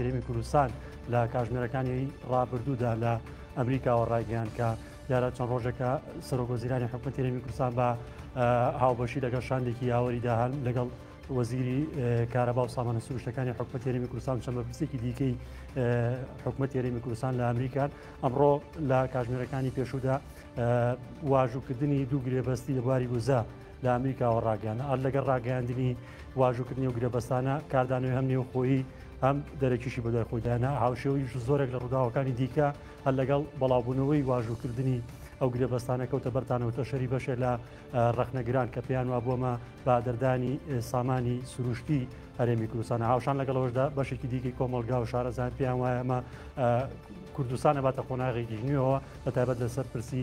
هەرێمی کوردستان لە کاژمێرەکانی ڕابردوودا لە ئەمریکاوە ڕایگەیان کە دیارە چەند ڕۆژێکە سەرۆکۆزیرانی حکوومەت هەرێمی کوردستان بە هاوبەشی لەگەڵ شاندێکی یاوەریدا هەن لەگەڵ وەزیری کارەبا و سامانە سروشتەکانی حکوومەت هەرێمی کوردستان چەند بەپرسێکی دیکەی حکوومەت هەرێمی کوردستان لە ئەمریکان ئەمڕۆ لە کاژمێرەکانی پێشوودا واژووکردنی دوو گرێبەستی لە بواری وزە لە ئەمریکاوە ڕاگەیانا ئەر لەگەر ڕاگەیاندنی واژوکردنی و گرێبەستانە کاردانەوەی هەم نێوخۆیی هەم دەرەکیشی بەدای خۆداینا هاوشێویش زۆرێک لە ڕووداوەکانی دیکە هەر لەگەڵ بەڵاوبوونەوەی واژوکردنی ئەو گرێبەستانە کەوتە بەرتانەوەتە شەری بەشێ لە ڕخنەگران کە پێیان وا بۆمە بادەردانی سامانی سروشتی هەرێمی کوردستانە هاوشان لەگەڵەوەشدا بەشێکی دیکەی کۆمەلگا و شارەزان پێیان وایە ئەمە کوردستانە باتە قۆناغێکی نوێەوە بە تایبەت لەسەر پرسی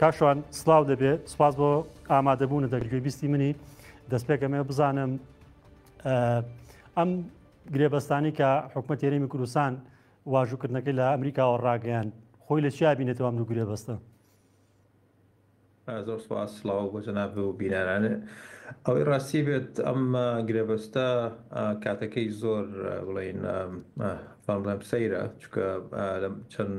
کاک شوان سلاو دەبێ سپاس بۆ ئامادەبوونە دەک گوێبیستی منی دەست پێکەمێ بزانم ئەم گرێبەستانی کە حکوومەت تێرەمی کوردستان واژووکردنەکەی لە ئەمریکاوە ڕاگەیان خۆی لە چیا بینێتەوە ئەم دوو گرێبەستە زۆر سپاس سلااو بۆ جەناب و بینەرانێ ئەوەی ڕاستی بێت ئەم گرێبەستە کاتەکەی زۆر بڵین فامڵێم سەیرە چکە چەند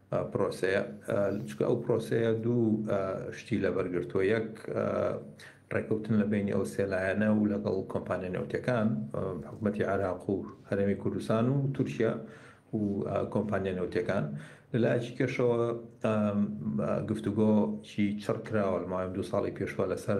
پرۆسەیە، چونکە ئەو پرۆسەیە دوو شتی لەبەر گرتووە، یەک ڕێکەوتن لە بەینی ئەو سێ لایەنە و لەگەڵ کۆمپانیا نەوتییەکان، حکومەتی عێراق و هەرێمی کوردستان و تورکیا و کۆمپانیا نەوتییەکان، لە لایەکی کەشەوە گفتوگۆی چڕ کراوە لە ماوەی ئەم دوو ساڵی پێشوە لەسەر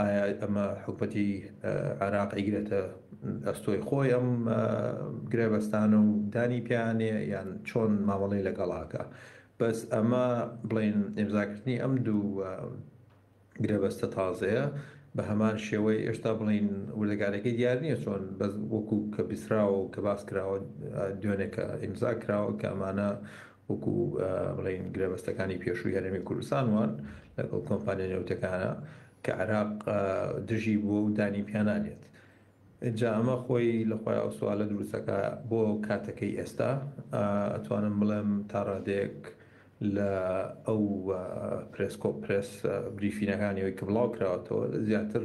ئایا ئەمە حکومەتی عێراق ئەیگرێتە ئەستۆی خۆی ئەم گرێبەستانە و دانی پێیانێ یان چۆن مامەڵەی لەگەڵاکە بەس ئەمە بڵین ئێمزاکردنی ئەم دوو گرێبەستە تازەیە بە هەمان شێوەی ئێشتا بڵین وردەگارەکەی دیار نییە چۆن بەس وەکو کە بیسراوە و کە باس کراوە دوێنێکە ئیمزا کراوە کە ئەمانە وەکو بڵێین گرێبەستەکانی پێشووی هەرێمی کوردستان وان لەگەڵ کۆمپانیا نێوتەکانە کە عراق دژی بووە و دانی پیانانێت جا ئەمە خۆی لە خۆی ئەو سوالە دروستەکە بۆ کاتەکەی ئێستا ئەتوانم بڵێم تا ڕادێک لە ئەو پرسکۆ پرس بریفینەکانی ئەوی کە بڵاو کراوەتەوە زیاتر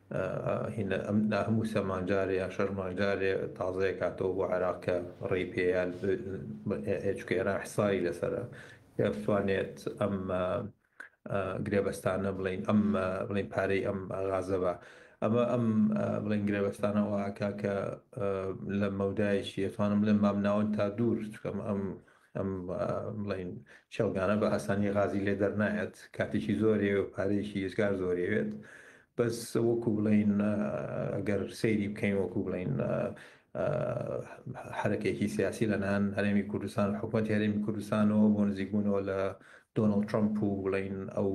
هینا ئەم نا هەموو سەمان جارێ یا شەرمان جارێ تازەیە کاتەوە بۆ عێراق کە ڕێی پێیان چکە ئێران حسایی لەسرە کە بتوانێت ئەم گرێبەستانە بڵین ئەم بڵین پارەی ئەم غازەوە ئەمە ئەم بڵین گرێبەستانەوە ئاکا کە لە مەودایشی ئەتوانم بڵێن مامناوەند تا دوور چکەم ئەم ئەم بڵین چێڵگانە بە ئاسانی غازی لێ دەرنایەت کاتێکی زۆرێ و پارێکی یزگار زۆرێوێت بەس وەکو بڵین ئەگەر سەیری بکەین وەکو بڵین حرەکێکی سیاسی لەنان هەرێمی کوردستان حکوومەت هەرێمی کوردستانەوە بۆ نزیکبوونەوە لە دۆناڵ ترمپ و بڵین ئەو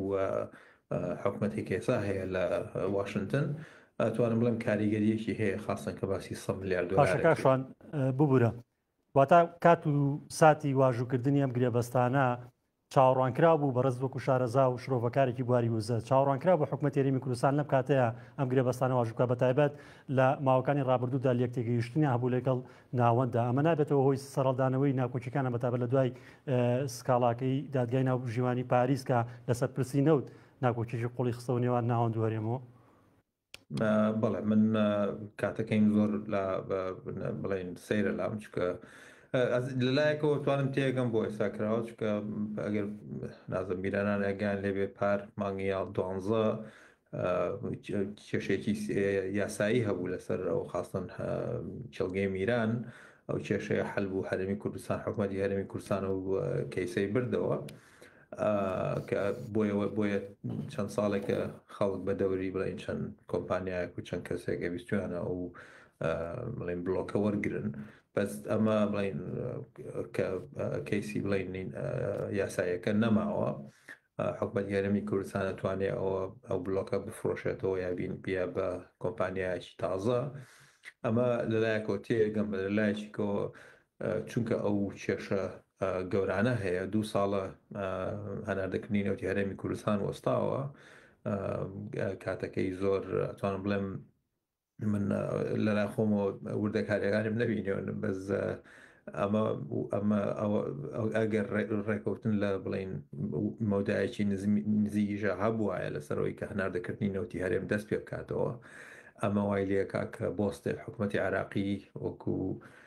حکوومەتی کێسا هەیە لە واشنگتن توانم بڵم کاریگەریەکی هەیە خاستن کە باسی سە ملیار دۆلارشان ببورە واتە کات و ساتی واژووکردنی ئەم گرێبەستانە چاوەڕوانکرا بوو بە ڕز وەکو شارەزا و شرۆڤەکارێکی بواری وزە چاوەڕوانکرا بۆ حکومە تێریمی کوردستان لەم کاتەیە ئەم گرێبەستانە واژوکە بە تایبەت لە ماوەکانی ڕابردوودا لەک تێگەیشتنی هەبوو لەگەڵ ناوەنددا ئەمە نابێتەوە هۆی سەرڵدانەوەی ناکۆکیەکانە بەتابە لە دوای سکاڵاکەی دادگای ناو ژیوانی پاریسکە لەسەر پرسی نەوت ناکۆکیی قوڵی خستەوە نێوان ناوەند وەرێمەوە بەڵێ من کاتەکەیم زۆر لە بڵێن سەیرە لام چکە لەلایەکەوە توانم تێگەم بۆ ئێستا کراوە چکە ئەگەر نازم بیرانان ئەگەیان لێبێ پار مانگی یاڵ دوانزە کێشێکی یاسایی هەبوو لەسەر ئەو خاستن کێڵگەی میران ئەو کێشەیە حل بوو هەرمی کوردستان حکومەتی هەرمی کوردستان و کەیسەی بردەوە کە بۆیەوە بۆیە چەند ساڵێکە خەڵک بە دەوری بڵێن چەند کۆمپانیایەک و چەند کەسێک ئەویستویانە و بڵێن بلۆکە وەرگن بەس ئەمە بڵین کە کەیسی بڵین یاسایەکە نەماوە حکومت گەرمی کوردستانە توانێ ئەوە ئەو بلۆکە بفرۆشێتەوە یا بین بیا بە کۆمپانیایکی تازە ئەمە لەلایەکەوە تێگەم لەلایەکەوە چونکە ئەو کێشە گەورانە هەیە دوو ساڵە هەناردەکردنی نەوتی هەرێمی کوردستان وەستاوە کاتەکەی زۆر توانم بڵێم من لەلا خۆمەوە وردەکاریەکانم نەبینێون بەس ئەمە ئەمە ئەگەر ڕێکەوتن لە بڵین مەودایەکی نزیکیشە هەبواە لەسەرەوەی کە هەناردەکردنی نەوتی هەرێم دەست پێ بکاتەوە ئەمە وای لەکە کە بۆستێ حکوومەتتی عراقی وەکو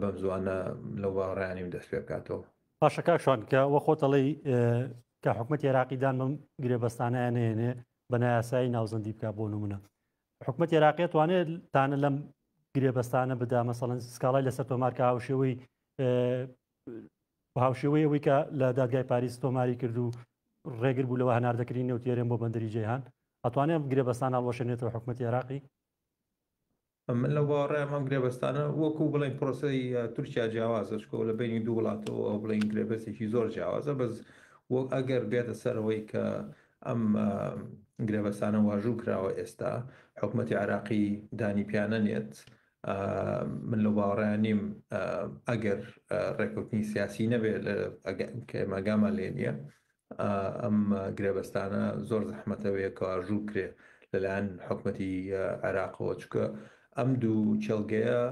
بەم زوانە لەو باڕیانی و دەست پێ بکاتەوە باشە کاک شوان کە وە خۆت ئەڵێی کە حکومەت عێراقیدان بم گرێبەستانیان نێنێ بە نایاسایی ناوزەندی بکە بۆ نمونە حکومەت عێراقیت وانێت تانە لەم گرێبەستانە بدا مەسەڵەن سکاڵای لەسەر تۆمارکە هاوشێوەی هاوشێوەی ئەوەی کە لە دادگای پاریس تۆماری کرد و ڕێگر بوو لەوە هەنار دەکرین نەوتێرێن بۆ بەندری جیهان ئەتوانێت گرێبەستان هەڵوەشێنێتەوە حکومەت عێراقی من لەو باوەڕەم ئەم گرێبەستانە وەکو بڵێن پرۆسەی تورکیا جیاوازە چکۆ لە بینی دوو وڵاتەوە ئەو بڵین گرێبەستێکی زۆر جیاوازە بەس وەک ئەگەر بێتە سەرەوەی کە ئەم گرێبەستانە واژوو کراوە ئێستا حکوومەتتی عراقی دانی پیانە نێت من لە باوەڕیان نیم ئەگەر ڕێکوتنی سیاسی نەبێت ئەگەمەگامان لێ نییە ئەم گرێبەستانە زۆر زەحمەتە وەیەکەواژوو بکرێ لەلایەن حکومەتی عێراقەوە چکە ئەم دوو چێلگەیە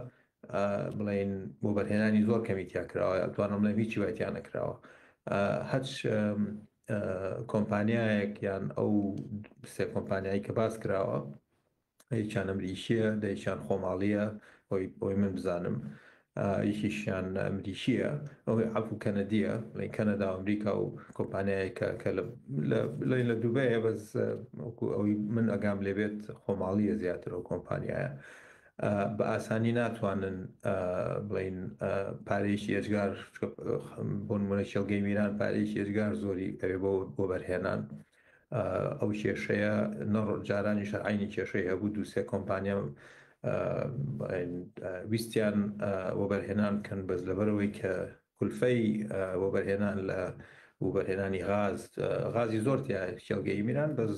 بڵین بۆ بەرهێنانی زۆر کەمیتیا کراوە توانم لە هیچی وایتیان نەکراوە هەچ کۆمپانیایەک یان ئەو سێ کۆمپانیایی کە باس کراوە یەکیان ئەمریکیە دەیەکیان خۆماڵیە ئەوەی بۆی من بزانم یەکیشیان ئەمریکیە ئەوەی عفو کەنەدیە لەین کەنەدا ئەمریکا و کۆمپانیایەکە کە لەین لە دوبەیە بەس وەکو ئەوەی من ئەگام لێبێت خۆماڵیە زیاتر و کۆمپانیایە بە ئاسانی ناتوانن بڵین پارێکی ئێجگار بۆنمونە شێڵگەی میران پارێکی ئێجگار زۆری ئەوێ بۆ بەرهێنان ئەو کێشەیە نە جارانیش هەر عەینی کێشەی هەبوو دوو سێ کۆمپانیا ویستیان وەبەرهێنان بکەن بەس لەبەرەوەی کە کولفەی وەبەرهێنان لە وبەرهێنانی غاز غازی زۆر تیا کێڵگەی میران بەس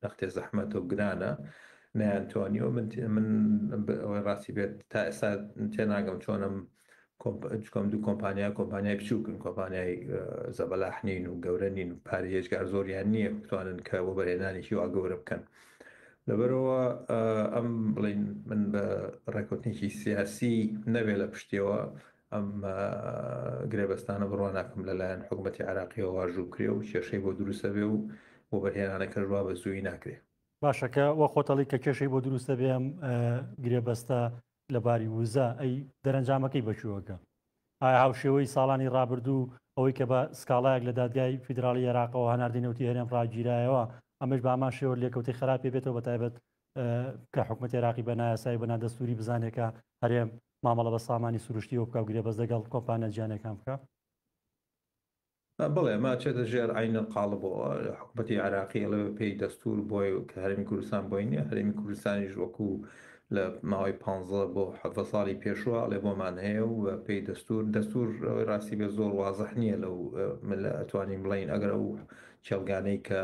نەختێ زەحمەتە و گرانە نیان توانیەوە من من ئەوەی ڕاستی بێت تا ئێستا تێناگەم چۆنم چکۆم دوو کۆمپانیا کۆمپانیای بچووکن کۆمپانیای زەبەلاح نین و گەورە نین و پارە هێجگار زۆریان نییە بتوانن کە بۆ بەرهێنانێکی وا گەورە بکەن لەبەرەوە ئەم بڵین من بە ڕێکوتنێکی سیاسی نەبێ لە پشتیەوە ئەم گرێبەستانە بڕوان ناکەم لەلایەن حکوومەتتی عراقیەوە واژوو کرێ و کێشەی بۆ دروستە بێ و بۆ بەرهێنانە کەژوا بە زووی ناکرێ باشەکە وە خۆتەڵی کە کێشەی بۆ دروستە بێم گرێبەستە لە باری وزە ئەی دەرەنجامەکەی بە کوێوەگە؟ ئایا هاوشێوەی ساڵانی ڕابردوو ئەوەی کە بە سکاڵایەک لە دادگای فیدراڵی عێراقەوە هەناردەی نەوتی هەرێم ڕاگیرایەوە ئەمەش بە هەمان شێوە لێکەوتەی خراپێ بێتەوە بە تایبەت کە حکومەت عێراقی بە نایاسایی بە نادەستوری بزانێت کە هەرێم مامەڵە بە سامانی سروشتیەوە بکە و گرێبەست لەگەڵ کۆمپانیا جیانەکان بکە بەڵێ ئەمە ئەچێتە ژێر عەینەل قاڵبەوە، حکومەتی عێراقی ئەڵێ بە پێی دەستوور بۆی کە هەرێمی کوردستان بۆی نییە، هەرێمی کوردستانیش وەکوو لە ماوەی پانزە بۆ حەڤدە ساڵی پێشوو ئەڵێ بۆمان هەیە و بە پێی دەستوور، دەستوور ئەوەی ڕاستی بێت زۆر وازح نییە لەو ملە ئەتوانین بڵێین ئەگەر ئەو کێڵگانەی کە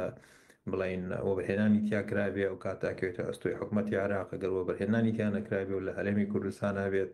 بڵێین وەبەرهێنانی تیا کرابێ ئەو کاتە ئەکەوێتە ئەستۆی حکومەتی عێراق، ئەگەر وەبەرهێنانی تیا نەکرابێ و لە هەرێمی کوردستانا بێت،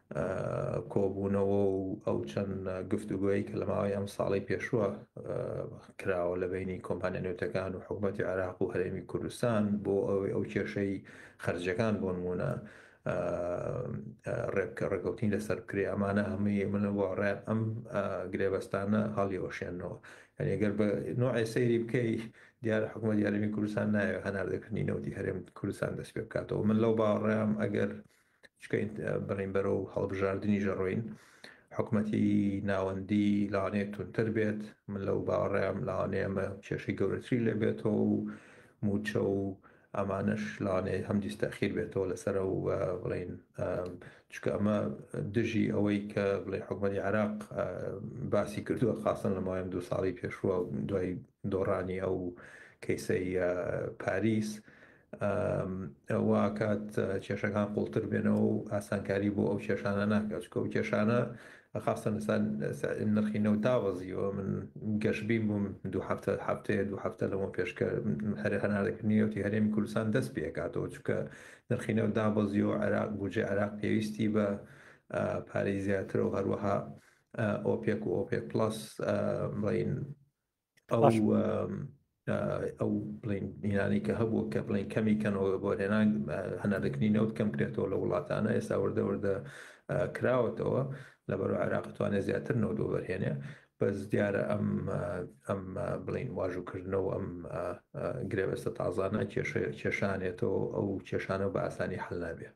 کۆبوونەوە و ئەو چەند گفتوگۆیەی کە لە ماوەی ئەم ساڵەی پێشووە کراوە لە بینی کۆمپانیا نەوتەکان و حکوومەتی عێراق و هەرێمی کوردستان بۆ ئەوەی ئەو کێشەی خەرجەکان بۆ نموونە ڕێبکە ڕێکەوتین لەسەر بکرێ ئەمانە هەمووی من بۆ ڕێ ئەم گرێبەستانە هەڵیەوەشێنەوە یانیگەر بە نوعی سەیری بکەی دیارە حکوومەت یارمی کوردستان ناوێ هەناردەکردنی نەوتی هەرێم کوردستان دەست پێ بکاتەوە من لەو باڕێم ئەگەر چونکە بڕین بەرەو هەڵبژاردنی ژەڕۆین، حکومەتی ناوەندی لەوانەیە تونتر بێت، من لەو باوەڕەیەم لەوانەیە ئەمە کێشەی گەورەتری لێ بێتەوە و مووچە و ئەمانەش لەوانەیە هەم دیستەخیر بێتەوە لەسەر و بڵین چکە ئەمە دژی ئەوەی کە بڵێ حکومەتی عراق باسی کردووە خاستن لە مایم دوو ساڵی پێشوە دوای دۆڕانی ئەو کەیسەی پاریس وا ئەکات کێشەکان قوڵتر بێنەوە و ئاسانکاری بۆ ئەو کێشانە ناکات چکە و کێشانە خاستە نسان نرخی نەوت داوەزیوە من گەشبین بووم دو هەفتە هەفتەیە دو هەفتە لەمە پێشکە هەر هەناردەکردنیەوەی هەرێمی کوردستان دەست پێکاتەوە چکە نرخی نەوت دابەزیەوە عراق بجێ عراق پێویستی بە پارەی زیاترە و هەروەها ئۆپێک و ئۆپێک پلس بڵین ئەو بڵین نیرانی کە هەبوو کە بڵین کەمی کەنەوە بۆ هێنان هەناردەکردنی نەوت کەم کرێتەوە لە وڵاتانە ئێستا وردەوردە کراوەتەوە لە بەرو عێراقتوانێت زیاتر نەوت بۆ بەرهێنێ بەس دیارە ئەم ئەم بڵین واژوکردنەوە ئەم گرێبەستە تازانە کێشانێتەوە ئەو کێشانە بە ئاسانی حل نابێت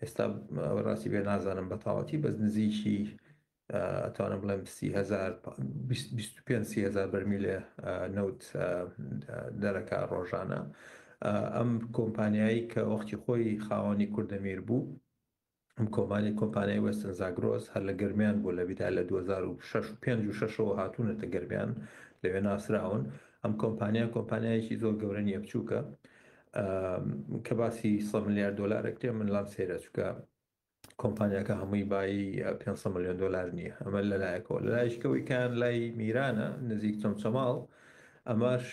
ئێستا ڕاستی بێ نازانم بە تاوەتی بەس نزیکی ئەتوانم بڵێم هزار بەرمیلێ نەوت دەرەکە ڕۆژانە ئەم کۆمپانیایی کە وەختی خۆی خاوەنی کوردەمیر بوو ئەم کۆمانی کۆمپانیای وەستن زاگرۆس هەر لە گەرمیان بوو لە بیدا لە 2006ەوە هاتوونەتە گەرمیان لەوێ ناسراون ئەم کۆمپانیا کۆمپانیایەکی زۆر گەورە نیە بچووکە کە باسی سەد ملیار دۆلار ئەکرێ من لام سەیرە چونکە کۆمپانیاکە هەمووی بایی پێنج سەد ملیۆن دۆلار نییە ئەمە لەلایەکەوە لەلایشکەوەی کان لای میرانە نزیک چەمچەماڵ ئەمەش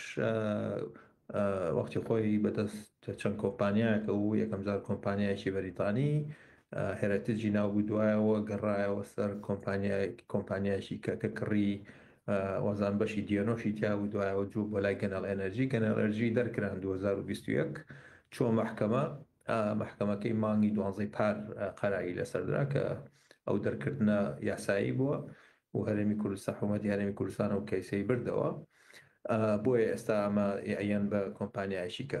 وەختی خۆی بەدەست چەند کۆمپانیایەکە و یەکەمجار کۆمپانیایکی بەریتانی هێرەتجی ناوبوو دوایەوە گەڕایەوە سەر کۆمپانیای کۆمپانیایکی کە کە کڕی وازان بەشی دیەنۆشی تیابوو دوایەوە جوو بۆ لای گەنەڵ ئێنەرجی گەنەڵ ئەرجی دەرکران دوو هەزار و بیست و یەک چۆ مەحکەمە مەحکەمەکەی مانگی دوانزەی پار قەراری لەسەردرا کە ئەو دەرکردە یاسایی بووە و هەرێمی کوردستان حوومەتی هەرێمی کوردستان و کەیسەی بردەوە بۆیە ئێستا ئەمە یان بە کۆمپانیایشیکە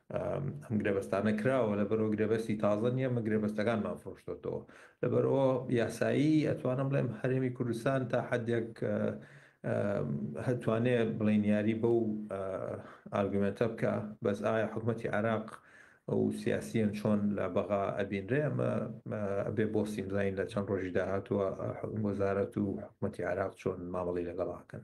ئەم گرێبەستانە کراوە لەبەرئەوە گرێبەستی تازە نیە ئەمە گرێبەستەکانمان فرۆشتۆتەوە لەبەرئەوە یاسایی ئەتوانم بڵێم هەرێمی کوردستان تا حەدێک هەتوانێ بڵێن یاری بەو ئارگومنتە بکە بەس ئایا حکوومەتی عراق ئەو سیاسیەن چۆن لە بەغا ئەبینرێ ئەمە بێ بۆ سیمزین لە چەند ڕۆژی داهاتوە وەزارەت و حکوومەتی عراق چۆن مامەڵی لەگەڵاکەن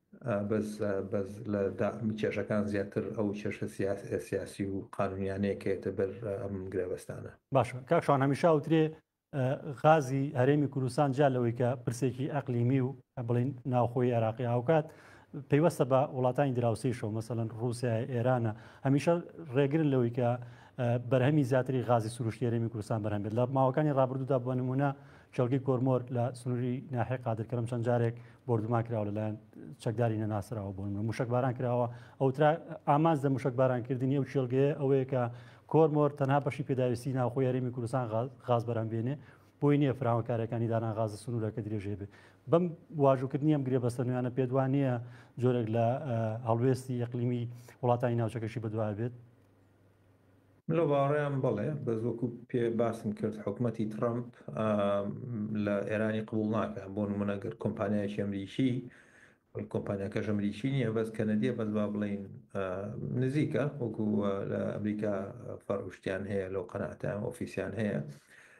بەس بەس لە داخمی کێشەکان زیاتر ئەو کێشە سیاسی و قانونیانەیە کەێتە بەر ئەم گرێبەستانە باش کاک شان هەمیشا وترێ غازی هەرێمی کوردستان جا لەوەی کە پرسێکی ئەقلیمی و بڵین ناوخۆی عێراقی هاوکات پەیوەستە بە وڵاتانی دراوسیشەوە مەسەن رووسیا ئێرانە هەمیشە ڕێگرن لەوەی کە بەرهەمی زیاتری غازی سروشتی هەرێمی کوردستان بەرهەمێت لە ماوەکانی ڕابردوودا بۆ نمونە کێڵگەی کۆرمۆر لە سنووری ناحێ قادرکەرم چەند جارێک بردومان کراوە لەلایەن چەکداری نەناسراوە بۆن من موشک باران کراوە ئەوترا ئامانز لە موشک بارانکردنی ئەو کێڵگەیە ئەوەیە کە کۆرمۆر تەنها بەشی پێداویستی ناوخۆ یاریمی کوردستان غاز بەرەم بێنێ بۆی نییە فراوانکارەکانی دانان غاز سنوورەکە درێژێ بێ بەم واژوکردنی ئەم گرێ بەستە نوێیانە پێدوانە جۆرێک لە هەڵوێستی یەقلیمی وڵاتانی ناوچەکەشی بەدوای بێت من لەو باوەڕەیام بەڵێ، بەس وەکو پێ باسم کرد حکومەتی تڕەمپ لە ئێرانی قبوڵ ناکە بۆ نمونە گەر کۆمپانیایکی ئەمریکی کۆمپانیاکە ژەمریکی نییە بەس کەنەدیە بەس با بڵین نزیکە وەکو لە ئەمریکا فەرشتیان هەیە لەو قەناتە ئۆفیسیان هەیە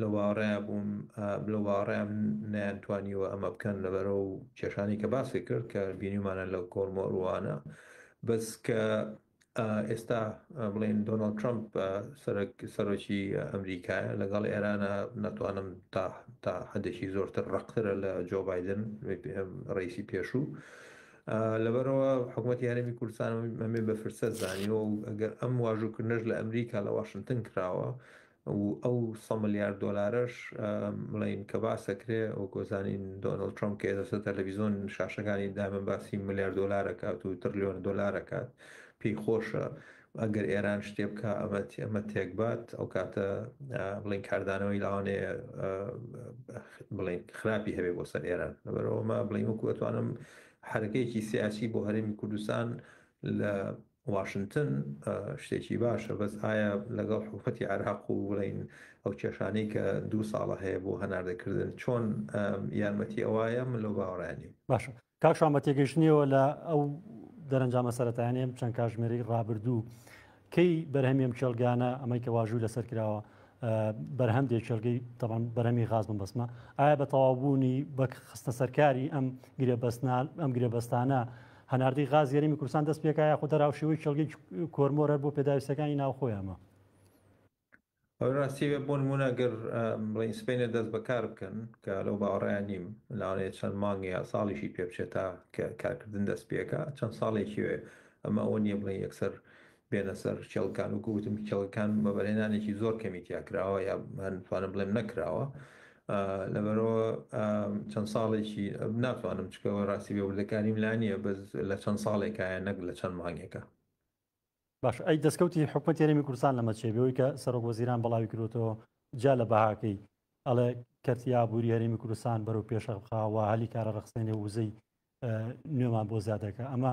لە واڕێا بووم لە واڕێا بووم نەیان توانیوە ئەمە بکەن لەبەرەو کێشانی کە باسی کرد کە بینیومانە لە کۆرمۆروانە بەس کە ئێستا بڵێن دۆناڵد ترامپ سەرۆکی ئەمریکایە لەگەڵ ئێرانە ناتوانم تا تا حدێکی زۆرتر ڕقترە لە جۆ بادن ڕیسی پێشوو لەبەرەوە حکوومەت یارمی کوردستان ئەمێ بە فرسە زانیەوە و ئەگەر ئەم واژووکردنەش لە ئەمریکا لە واشنگتن کراوە و ئەو سەد ملیار دۆلارەش بڵێین کە باس دەکرێ وەکو دەزانین دۆناڵد ترەمپ کە ئێستا تەلەڤیزیۆن شاشەکانی دایمە باسی ملیار دۆلار دەکات و تڕلیۆن دۆلار دەکات پێی خۆشە ئەگەر ئێران شتێ بکە ئەمە ئەمە تێکبات ئەو کاتە بڵین کاردانەوەی لاوانێ بڵین خراپی هەبێ بۆ سەر ئێران لەبەرەوەمە بڵین وەکو ئەتوانم حرکەیەکی سیاسی بۆ هەرێمی کوردستان لە واشنتن شتێکی باشە بەس ئایا لەگەڵ حکومەتی عێراق و بڵێین ئەو کێشانەی کە دوو ساڵە هەیە بۆ هەناردەکردن چۆن یارمەتی ئەوایە من لەو باوەڕیان نیم. باشە کاک شوان بە تێگەیشتنیەوە لە ئەو دەرەنجامە سەرەتایانەیە چەند کاژمێرەی ڕابردوو کەی بەرهەمی ئەم کێڵگانە ئەمەی کە واژووی لەسەر کراوە بەرهەم دێ کێڵگەی تەمان بەرەمی غاز بم بەسمە ئایا بە تەواوبوونی بە خستە سەرکاری ئەم گرێبەستنال ئەم گرێبەستانە هەناردەی غازی هەرێمی کوردستان دەست پێکا یاخۆ دەراوشێوەی کێڵگەی کۆرمۆر هەر بۆ پێداویستیەکانی ناوخۆیانە؟ ئەوەی ڕاستی بێ بۆ نموونە گەر بڵێین سپەینێ دەست بەکار بکەن کە لەو باوەڕەیان نیم لەوانەیە چەند مانگ یا ساڵیشی پێ بچێت تا کارکردن دەست پێکا چەند ساڵێکی وێ ئەمە ئەوە نییە بڵێن یەکسەر بێنە سەر کێڵگەکان، وەکو وتم کێڵگەکان وەبەرهێنانێکی زۆر کەمی تیا کراوە یا هەر بتوانم بڵێم نەکراوە لەبەرەوە چەند ساڵێکی ناتوانم چکەوە ڕاستی بێ وردەکاریم لا نییە بەس لە چەند ساڵێکایە نەک لە چەند مانگێکە باش ئەی دەستکەوتی حکومت یاریمی کوردستان لەمە چێ بەوەی کە سەرۆک وەزیران بەڵاوی کردوەوە جا لە بەهاکەی ئەڵێ کەرتی ئابووری هەرێمی کوردستان بەرەو پێشە بخاوە هەلی کارە ڕخسێنێ وزەی نوێمان بۆ زیادەکە ئەمە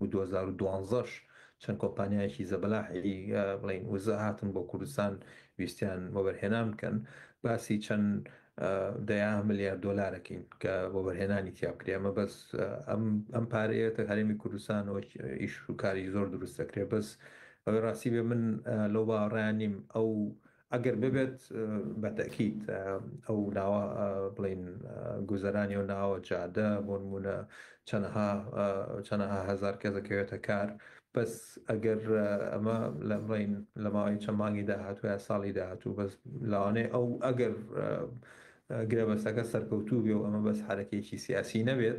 و دوو هەزار و دوازدە ش چەند کۆمپانیایەکی زەبەلاحی بڵین وزە هاتن بۆ کوردستان ویستیان وەبەرهێنان بکەن باسی چەند دەیا ملیار دۆلارەکەین کە وەبەرهێنانی تیاکرێ ئەمە بەس ئەم پارەیەتە هەرێمی کوردستان ئیش و کاری زۆر دروست دەکرێت بەس ئەوەی ڕاستی بێ من لەو باڕیان نیم ئەو ئەگەر ببێت بە تەئکید ئەو ناوە بڵێین گوزەرانی ئەو ناوە جادە بۆ نموونە چەنەها چەنەها هەزار کەس دەکەوێتە کار بەس ئەگەر ئەمە لە بڵین لە ماوەی چە مانگی داهاتوو یا ساڵی داهاتوو بەس لاوانێ ئەو ئەگەر گرێبەستەکە سەرکەوتوو بێ و ئەمە بەس حرەکێکی سیاسی نەبێت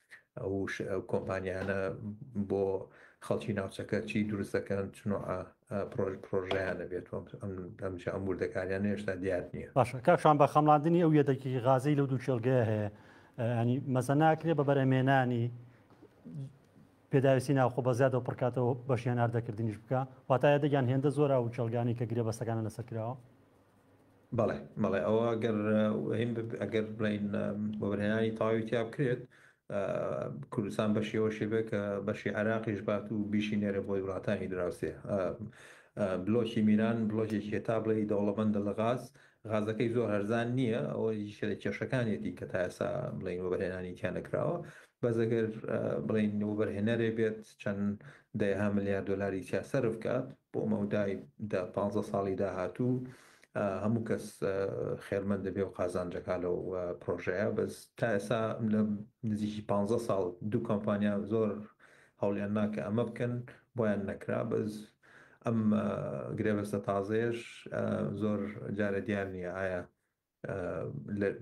ئەو کۆمپانیانە بۆ خەڵکی ناوچەکە چی دروست دەکەن چنوعە پرۆژ پرۆژیانە بێت ئەمجا ئەم وردەکاریان هێشتا دیار نییە باشە کاکشان بە خەمڵاندنی ئەو یەدەکی غازەی لەو دوو کێڵگەیە هەیە ینی مەزەناکرێ بە بەرەمێنانی پێداویستی ناوخۆ بە زیادەوە پڕکاتەوە بەشیان هەردەکردنیش بکە واتایە دەگیان هێندە زۆرا و کێڵگانی کە گرێ بەسەکانە لەسەر کراوە بەڵێ بەڵێ ئەوە گەر هەین ئەگەر بڵین بەبرهێنانی تەواوی تیا بکرێت کوردستان بەشی ئەوە شێبێ کە بەشی عراقیش بات و بیشی نێرە بۆی وڵاتانی دراوسێ بلۆکی میران بلۆکێکی هێتا بڵێ دەوڵەمەندە لە غاز غازەکەی زۆر هەرزان نییە ئەوە یشە لە کێشەکانێتی کە تاسا بڵین وەبەرهێنانی تیانەکراوە بەزەگەر بڵین وبەرهێنەرێ بێت چەند دەها ملیار دلاری سیاسەرف بکات بۆ مەودای دە پانزە ساڵی داهاتوو هەموو کەس خێرمەند دەبێ و قازانجەکە لەو پرۆژەیە بەس تا ئێسا لە نزیکی پانزە ساڵ دوو کۆمپانیا زۆر هەوڵیان ناکە ئەمە بکەن بۆیان نەکرا بەس ئەم گرێبەستە تازەیەش زۆر جارە دیار نییە ئایا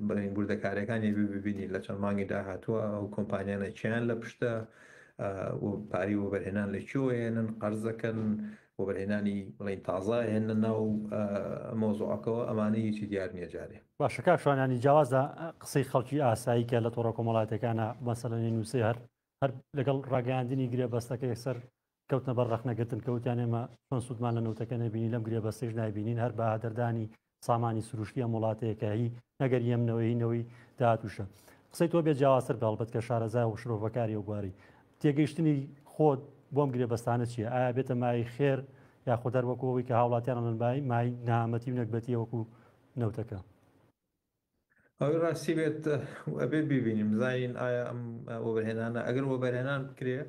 بەڵێن وردەکاریەکانی ببینین لە چەند مانگی داهاتووە ئەو کۆمپانیانە چیان لە پشتە پاری وەبەرهێنان لە چۆێنن قەرزەکەن وەبەرهێنانی بڵین تازە هێنە ناو مۆزۆعەکەەوە ئەمانەی هیچی دیار نیە جارێ باشە کاکشوانانی جیاوازە قسەی خەڵکی ئاسایی کە لە تۆڕە کۆمەڵاتەکانە بەسەلەنی نووسێ هەر هەر لەگەڵ ڕاگەاندنی گرێ بەستەکە یەکسەر کەوتنە بەر ڕەخنەگرتن کە وتیان ئێمە چۆن سوودمان لە نەوتەکە نەبینی لەم گرێبەستەش نایبینین هەر بەهادەردانی سامانی سروشتی ئەم وڵاتەیەکە هی نەگەر یەمنەوەی نەوەی داهاتوشە قسەی تۆ بێ جیاوازتر بەڵبەت کە شارەزای و شرۆڤەکاری و بواری تێگەیشتنی خۆت بۆم گرێبەستانە چیە ئایا بێتە مای خێر یاخۆ دەروەکەوەی کە هاوڵاتیان من بای مای نامەتی و نەگبەتیە وەکو نەوتەکە ئەوەی ڕاستی بێت ئەبێ ببینین بزانین ئایا ئەم وەبەرهێنانە ئەگەر وەبەرهێنان بکرێ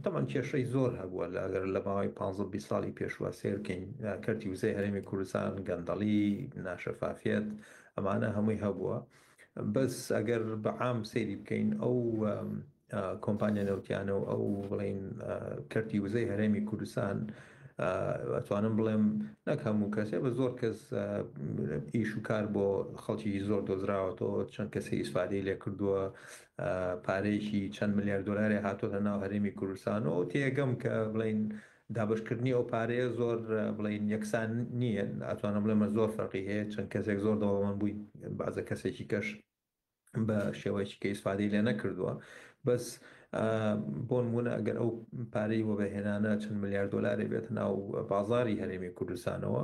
تەمان کێشەی زۆر هەبووە لە ئەگەر لە ماوەی 15 ساڵی پێشوە سێرکەین کەرتی وزەی هەرێمی کوردستان گەندەڵی ناشەفافیت ئەمانە هەمووی هەبووە بەس ئەگەر بەعام سەیری بکەین ئەو کۆمپانیا نەوتیانە و ئەو بڵێین کەرتی وزەی هەرێمی کوردستان ئەتوانم بڵێم نەک هەموو کەسێ بە زۆر کەس ئیش و کار بۆ خەڵکی زۆر دۆزراوەتەوە چەند کەسی ئیسفادەی لێ کردووە پارەیەکی چەند ملیار دلاری هاتۆتە ناو هەرێمی کوردستانەوە تێگەم کە بڵین دابشکردنی ئەو پارەیە زۆر بڵین یەکسان نییە ئەتوانم بڵێمە زۆر فەرقی هەیە چەند کەسێک زۆر دەوڵەمەند بووین بازە کەسێکی کەش بە شێوەیەکی کە ئیسفادەی لێ نەکردووە بەس بۆ نمونە ئەگەر ئەو پارەی وەبەهێنانە چەند ملیار دلاری بێت ناو بازاری هەرێمی کوردستانەوە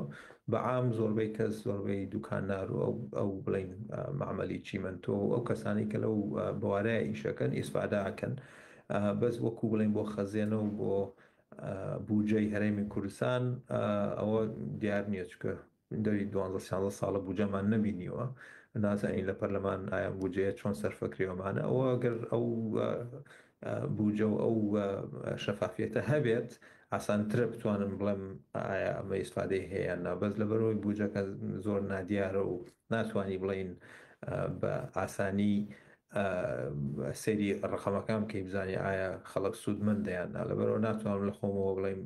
بە عام زۆربەی کەس زۆربەی دوکاننار و ئەو بڵین معمەلی چیمەنتۆ و ئەو کەسانی کە لەو بوارەیە ئیشەکەن ئیسفاداکەن بەس وەکو بڵین بۆ خەزێنە و بۆ بودجەی هەرێمی کوردستان ئەوە دیار نییە چکە دەوری دوانزە سیانزە ساڵە بوجەمان نەبینیوە نازانین لە پەرلەمان ئایا بوجەیە چۆن سەرفەکرێوەمانە ئەوە گەر ئەو بوجە و ئەو شەفافیەتە هەبێت ئاسانترە بتوانم بڵێم ئایا ئەمە ئیسفادەی هەیە نابەز لە بەرەوەی بوجەکە زۆر نادیارە و ناتوانانی بڵین بە ئاسانی سەیری ڕەقەمەکان بکەی بزانی ئایا خەڵک سوودمەندە یان نا، لەبەرئەوە ناتوانم لە خۆمەوە بڵێم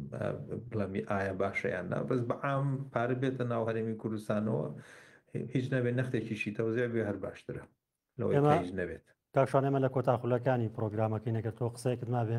بڵێم ئایا باشە یان نا، بەس بە عام پارە بێتە ناو هەرێمی کوردستانەوە هیچ نەبێت نەختێکیشی تەوزێع بێ هەر باشترە لەوەی کە هیچ نەبێت. کاک شوان ئێمە لە کۆتا خولەکانی پڕۆگرامەکەین ئەگەر تۆ قسەیەکت مابێ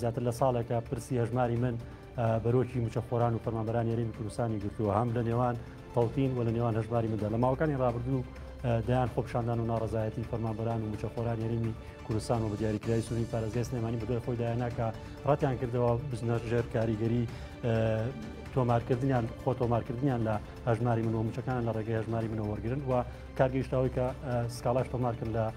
زیاتر لە ساڵێکە پرسی هەژماری من بەرۆکی مچەخۆران و فەرمانبەران یاریمی کوردستانی گرتووە هەم لە نێوان تەوتین و لە نێوان هەژماری مندا لە ماوەکانی ڕابردوو دەیان خۆپشاندان و ناڕزایەتی فەرمانبەران و مچەخۆران یاریمی کوردستان و بە دیاریکرای سووری پارێزگای سلێمانی بەدوای خۆی دایانناکە ڕەتیان کردەوە بزنە ژێر کاریگەری تۆمارکردنیان خۆ تۆمارکردنیان لە هەژماری منەوە مچەکان لە ڕێگەی هەژماری منەوە وەرگن و کارگەیشتاوی کە سکاڵاش تۆمارکرد لە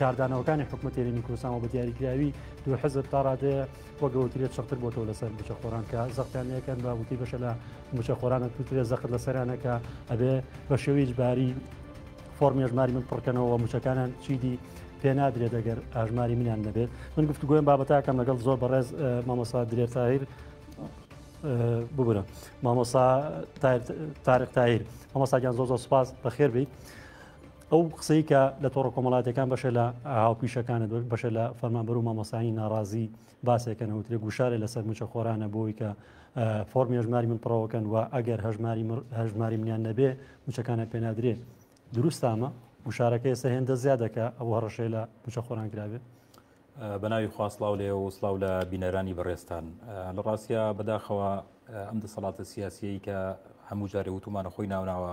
کاردانەوەکانی حکومەت هێرێمی کوردستان و بە دیاریکراوی دوو حزب تا ڕادەیە وەگەوترێت چڕتر بۆتەوە لەسەر بچە خۆران کە زەقتانەکەن بە وتی بەشە لە مچە خۆرانە توترێ زەخت لە سەرانەکە ئەبێ بە شێویج باری فۆرمی ژماری من پڕکەنەوە مچەکانان چیدی پێنادرێ دەگەر ئاژماری منیان نەبێت من گفت گوێن بابەتەکەم لەگەڵ زۆر بەڕێز مامۆسا درێت تاهیر ببرە مامۆسا تارق تایر مامۆساگیان زۆ زۆ سپاس بەخێر بیت. ئەو قسەی کە لە تۆڕە کۆمەڵاتەکان بەشە لە هاوپیشەکانت بەشە لە فەرمانبەر و مامۆسانی ناڕازی باسێکەن وترێ گوشارێ لەسەر مچە خۆرانە بۆی کە فۆرمی هەژماری من پڕەوەکەن و ئەگەر هەژماری هەژماری منیان نەبێ مچەکانە پێنادرێ دروستامە گوشارەکە ئێستا هێندە زیادەکە ئەو هەڕەشێ لە مچە خۆران کرابێ بەناوی خواسلااو لێ و سلااو لە بینەرانی بەڕێستان لە ڕاستە بەداخەوە ئەم دەسەڵاتە سیاسیەی کە هەموو جارێ وتومانە خۆی ناوناوە